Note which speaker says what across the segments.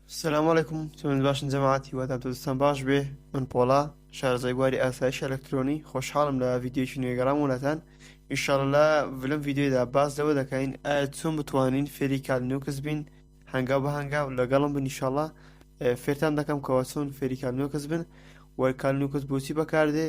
Speaker 1: سلام علیکم چۆن باشن جەماعەت هیوادام تۆستان باش بێ من پۆڵا شارزای گواری ئاسایش ئەلکترۆنی خۆشحاڵم لە ڤیددیوکی نوێگەڕام وڵاتان ئیشاڵلا لەم ڤیددیودا باز لەوە دەکەین ئایا چۆن بتوانین فێری کال نوکس بین هەنگاو بە هەنگاو لەگەڵم بنیشاڵە فێرتان دەکەم کەەوە چۆن فێری کال نوکس بن وەرکال نوکس بۆچی بەکاردێ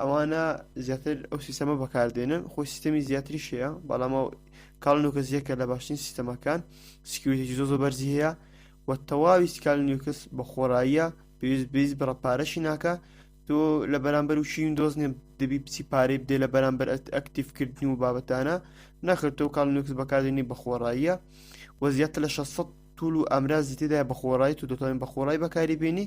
Speaker 1: ئەوانە زیاتر ئەو سیستەمە بەکاردێنن خۆی سیستەمی زیاتری شەیە بەڵامە کاڵنوکە زیەکە لە باشترین سیستەمەکان سکیوریتێکی زۆ زۆ بەرزی هەیە و تەواوی سکال نیوکس بە خۆڕاییە پێویست بیست بڕە پارەشی ناکە تۆ لە بەرامبەر و شین دۆزنێ دەبی بچی پارەی بدێ لە بەرامبەر ئەکتیفکردنی و بابەتانە نەخرتۆ کاڵ نوکس بەکاردێنی بە خۆڕاییە و زیاتر لە 600 توول و ئامرازی تێدای بە خۆڕای و دەتوانین بە خۆڕای بەکاری بینی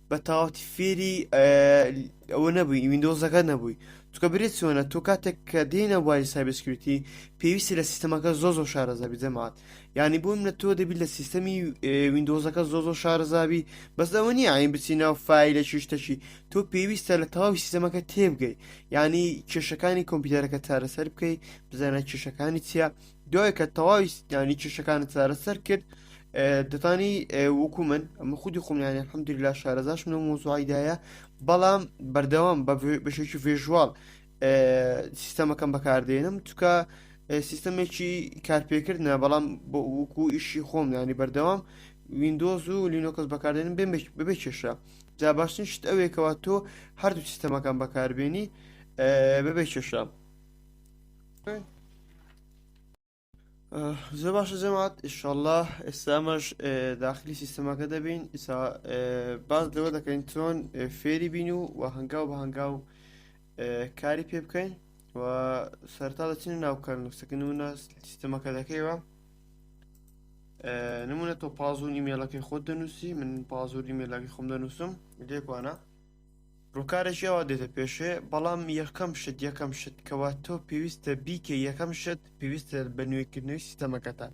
Speaker 1: بە تاوەتی فێری ئەوە نەبووی وینندۆزەکە نەبووی چکە برێت چۆنە تۆ کاتێک کە دێنە بواری سایبسکرتی پێویستی لە سیستەمەکە زۆ زۆ شارەزابی دەمات یعنی بۆ منە تۆ دەبی لە سیستەمی وینندۆزەکە زۆ زۆ شارەزابی بەس ئەوە نیە ئاین بچی ناو فیلە شتەشی تۆ پێویستە لە تەواوی سیستەمەکە تێبگەی ینی کێشەکانی کۆمپیوتەرەکە چارەسەر بکەیت بزانە کێشەکانی چییە دوای کە تەواوی ستانی کێشەکانت چارەسەر کرد دەتانی وەکو من ئەمە خودی خۆمیانە حمدلا شارەزاش منە مۆزوعیدایە بەڵام بەردەوام بەشێکی ڤێژوال سیستەمەکەم بەکاردێنم چکە سیستەمێکی کارپێکردە بەڵام بۆ وکو ئیشی خۆم ینی بەردەوام وینندۆز و لینۆکەس بەکاردێنم ببێ کێشە جا باشتر شت ئەوێکەوە تۆ هەردوو سیستەمەکان بەکاربیێنی ببێ کێشە زۆر باشە جەمات ئیشەڵە ئێستامەش داخلی سیستەمەکە دەبین ئیسا باز لەوە دەکەین چۆن فێری بین و و هەنگاو بە هەنگاو کاری پێ بکەین و سەرتا دەچین ناوکار نووسەکە نمونە سیستەمەکە دەکەیەوە نمونە تۆ پازون ئیمێلەکەی خۆت دەنووسی من پازور ئیمێلاکی خۆم دەنووسم لێکوانە ڕوکارێکی ئەوا دێتە پێشێ بەڵام یەکەم شت یەکەم شت کەوا تۆ پێویستە بیکە یەکەم شت پێویستە بە نوێکردنەوەی سیستەمەکەتە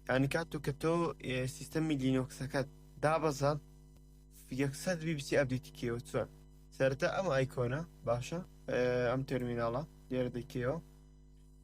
Speaker 1: یعنی کات و کە تۆ سیستەمی لینۆکسەکەت دابەزە یەکسەر بی بچی ئەبدیتی کێوە چۆن سەرتا ئەم ئایکۆنە باشە ئەم تەرمیناڵە لێرە دەکەوە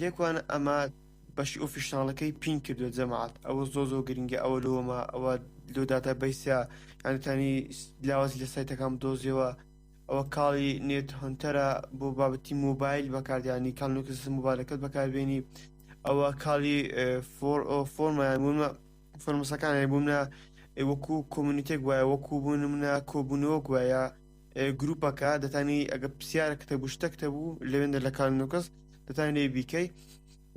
Speaker 1: لێکوانە ئەمە بەشی ئۆفیشناڵەکەی پین کردو جەماعات ئەوە زۆ زۆ گرنگە ئەوە لۆمە ئەوە لۆ داتا بیسە یانتانی لاوازی لە سایتەکان دۆزیەوە ئەوە کاڵی نێت هەنتەرە بۆ بابەتی مۆبایل بەکاردیانی کاڵنوکس مۆبایلەکەت بەکاربیێنی ئەوە کاڵی فۆرمەوە فۆرمسەکان بوومە وەکو کۆمونیتێک وایە وەکو بوون منە کۆبوونەوە گوایە گروپەکە دەتانی ئەگە پرسیارە کتە گوشتە کتە بوو لەوێندە لە کار نوکەس دەتان لێ بیکەی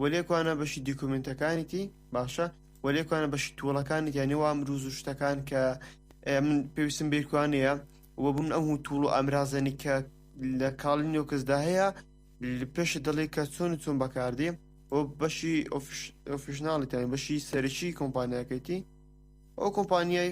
Speaker 1: وەلێکوانە بەشی دیکومنتەکانیتی باشە وەلێکوانە بەشی توڵەکانی یانی وام روز و شتەکان کە من پێویستم بێکوانەیە وە بوون ئەم و توڵ و ئامرازەنی کە لە کاڵی نوکەسدا هەیە پێش دەڵێ کە چۆن چۆن بەکاردێ بۆ بەشی ئۆفیشناڵیتانی بەشی سەرکی کۆمپانیاکەیتی ئەو کۆمپانیای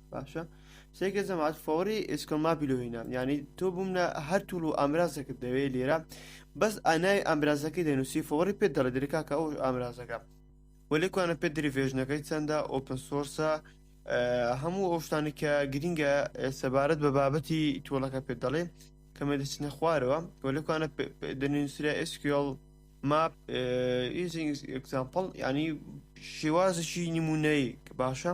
Speaker 1: باشە سێکە جەماعات فۆری ئسکۆما بیلوینە ینی تۆ بوومە هەر توول و ئامرازەکە دەوێت لێرە بەس ئانای ئامرازەکەی دەنووسی فۆری پێ دەڵێ درکاکە ئەو ئامرازەکە وەلێکوانە پێ دریڤێژنەکەی چەندە ئۆپن سۆرسە هەموو ئەو شتانی کە گرینگە سەبارەت بە بابەتی تۆڵەکە پێ دەڵێ کەمە دەچنە خوارەوە وەلێکوانە دەنووسرا ئسکیۆڵ ماپ ئیزیکزامپڵ ینی شێوازشی نمونەیە باشە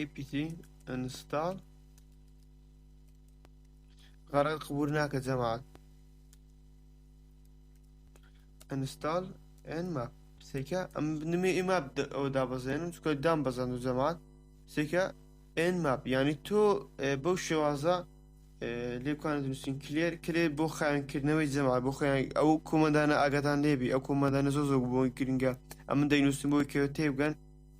Speaker 1: apt install غەڕێت قبول ناکە جەماعەت install and map سێکە ئەم نمێ ئیماپ ئەو دابەزێنم چکە دام بەزەند و جەماعەت سێکە and map یعنی تۆ بەو شێوازە لێکوانە دروستین کلێر کلێ بۆ خاوێنکردنەوەی جەماعەت بۆ خۆیان ئەو کومەدانە ئاگادان لێبی ئەو کومەدانە زۆ زۆ بۆی گرنگە ئەمن دەینووسم بۆی کەوێت تێبگەن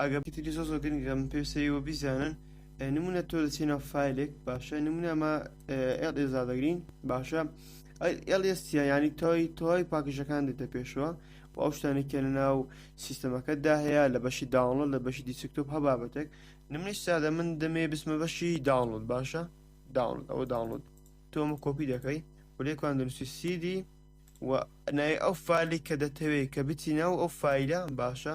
Speaker 1: ئەگەر پتری زۆر زۆر گرنگە من پێویستە ئێوە بیزانن نمونە تۆ دەچی ناو فیلێک باشە نمونە ئەمە ئێڵ ئێزا دەگرین باشە ئێڵ ئێستە ینی تۆی تۆی پاکیشەکان دێتە پێشەوە و ئەو شتانێکە لە ناو سیستەمەکەدا هەیە لە بەشی داڵۆ لە بەشی دیسکتۆپ هە بابەتێک نمنیش سادە من دەمێ بسمە بەشی داڵۆت باشە داڵۆت ئەوە داڵۆت تۆمە کۆپی دەکەی و لێکوان دەنووسی سیدی و نای ئەو فالی کە دەتەوێت کە بچینە و ئەو فیلە باشە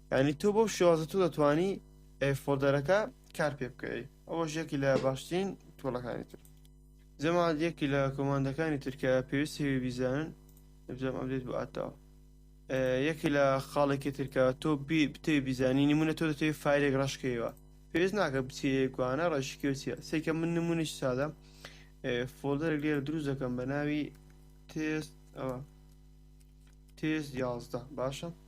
Speaker 1: یانی تۆ بەو شێوازە تۆ دەتوانی فۆلدەرەکە کار پێ بکەی ئەوەش یەکی لە باشترین تۆڵەکانی تر جەماعات یەکی لە کۆماندەکانی ترکە پێویستی بیزانن بزم ئەبێت بۆ ئاتاوە یەکی لە خاڵێکی ترکە تۆ بتێ بیزانی نمونە تۆ دەتێ فایلێک ڕشکەوە پێویست ناکە بچێکوانە ڕێشکی و چیە سێکە من نمونیش سادە فۆلدەر لێر دروست دەکەم بە ناوی تێست ئەوە تێست یازدە باشە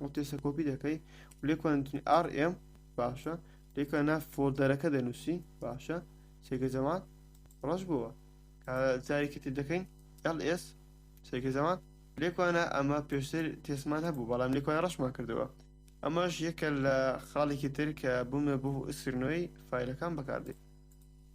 Speaker 1: ئەو تێسە کۆپی دەکەی و لێکوان نووسین RM باشە لێکوان ناو فۆلدەرەکە دەنووسی باشە سێگە زەمان ڕەش بووە جارێکی تر دەکەین LS سێگە زەمان لێکوانە ئەمە پێشتر تێسمان هەبوو بەڵام لێکوان ڕەشمان کردەوە ئەمەش یەکە لە خاڵێکی تر کە بوومە بۆ ئسکرنەوەی فیلەکان بەکاردێت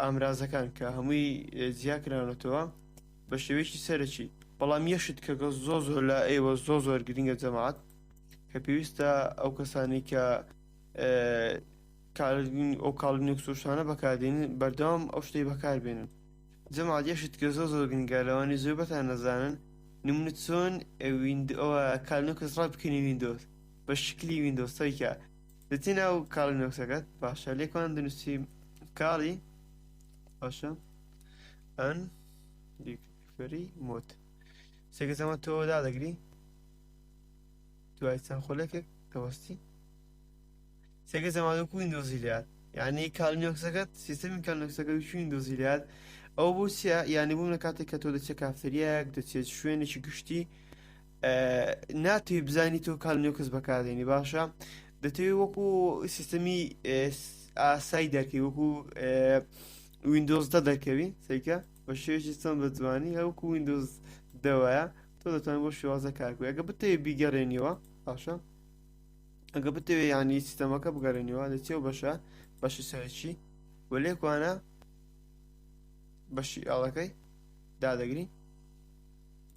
Speaker 1: ئامرازەکان کە هەمووی جیا کراونەتەوە بە شێوەیەکی سەرەکی بەڵام یەشت کەگە زۆ زۆر لە ئێوە زۆ زۆر گرنگە جەماعات کە پێویستە ئەو کەسانی کە ئەو کاڵین و سوشانە بەکاردێن بەردەوام ئەو شتەی بەکاربێنن جەماعات یەشت کە زۆ زۆر گرنگە لەوانی زۆر بەتان نەزانن نمونە چۆن ویند ئەوە کالنکەس ڕای بکەنی ویندۆز بە شکلی ویندۆسەیکە دەچی ناو کاڵی نۆکسەکەت باشە لێکۆن دنووسی کاڵی باشە ئەن فری مۆت سێکە سەمە تۆ دادەگری دوای چەند خولەکێک دەوەستی سێکە زەمانە کوین دۆزیلیات یعنی کالنیۆکسەکەت سیستمی کالنکسەکە شوین دۆزیلیات ئەو بۆ چیە یعنی بووم لە کاتێک کە تۆ دەچێت کافتریایەک دەچێت شوێنێکی گشتی ناتوی بزانی تۆ کالنیۆکس بەکاردێنی باشە دەتەوێت وەکو سیستەمی ئاسای دەکەی وەکو وینندۆزدا دەکەوی سەیکە بە شێژی چەند بە جوانی هەوکو وینندۆز دەوایە تۆ دەتوان بۆ شێوازە کارکو ئەگە بتەوێ بیگەڕێنیەوە باشە ئەگە بتەوێ ینی سیستەمەکە بگەڕێنیەوە لە چێو بەشە بەشی سەرچی وە لێکوانە بەشی ئاڵەکەی دادەگری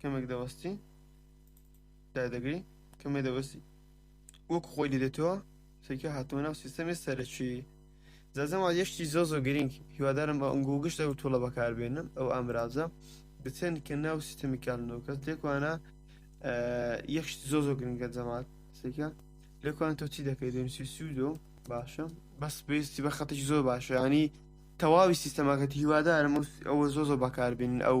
Speaker 1: کەمێک دەوەستی دا دەگری کەمێ دەوەستی وەک خۆی دێتەوە سەرکە هاتووە ناو سیستەمی سەرەکی زەزەما یەشتی زۆ زۆ گرنگ هیوادارم بە ئەنگۆ گشت ئەو تۆڵە بەکاربێنم ئەو ئامرازە بچن کە ناو سیستەمی کارنەوەکە تێکوانە یەخشت زۆ زۆ گرنگە جەمات سەرکە لەکوان تۆ چی دەکەی دەنووسی سوودۆ باشە بەس پێویستی بە خەتش زۆر باشە ینی تەواوی سیستەمەکەت هیوادارم ئەوە زۆ زۆ بەکاربین ئەو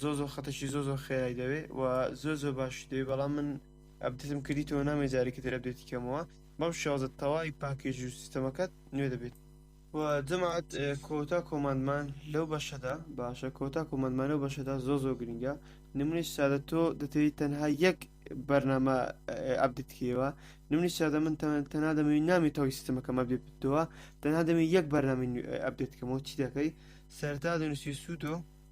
Speaker 1: زۆر زۆر خەتەکی زۆر زۆر خێرای دەوێ و زۆر زۆر باشی دەوێ بەڵام من ئەبدتم کردیتەوە نامێ جارێکی تر ئەبدێتی کەمەوە بەم شێوازە تەواوی پاکێژ و سیستەمەکەت نوێ دەبێت و جەماعەت کۆتا کۆماندمان لەو بەشەدا باشە کۆتا کۆماندمان لەو بەشەدا زۆ زۆ گرنگە نمونی سادە تۆ دەتەوی تەنها یەک بەرنامە ئەبدتکەوە نمونی سادە من تەنها دەمەوی نامی تەوی سیستمەکەم ئەبدێت بتەوە تەنها دەمەوی یەک بەرنامی ئەبدێتکەمەوە چی دەکەی سەرتا دەنووسی سووتۆ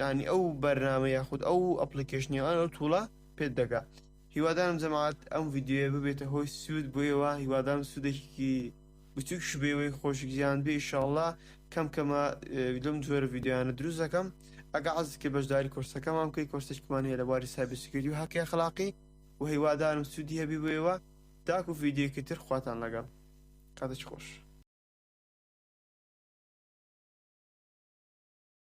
Speaker 1: یانی ئەو بەرنامە یاخود ئەو ئەپلیکەشنیوان ئەو توڵە پێت دەگا هیوادارم جەماعات ئەم یددیوە ببێتە هۆی سوود بۆیەوە هیوادارم سوودێکی بچووکش بێوەی خۆشگیان بێ ئیشاءله کەم کەمە لەم جۆرە یددیوانە دروست دەکەم ئەگە عزکە بەشداری کۆرسەکەمان بکەی کۆرسێکمان هەیە لە باری سابسکردی و هەقی خلاقی و هیوادارم سوودی هەبی بۆیەوە تاکو یددیوکی تر خواتان لەگەڵ کاتێک خۆش.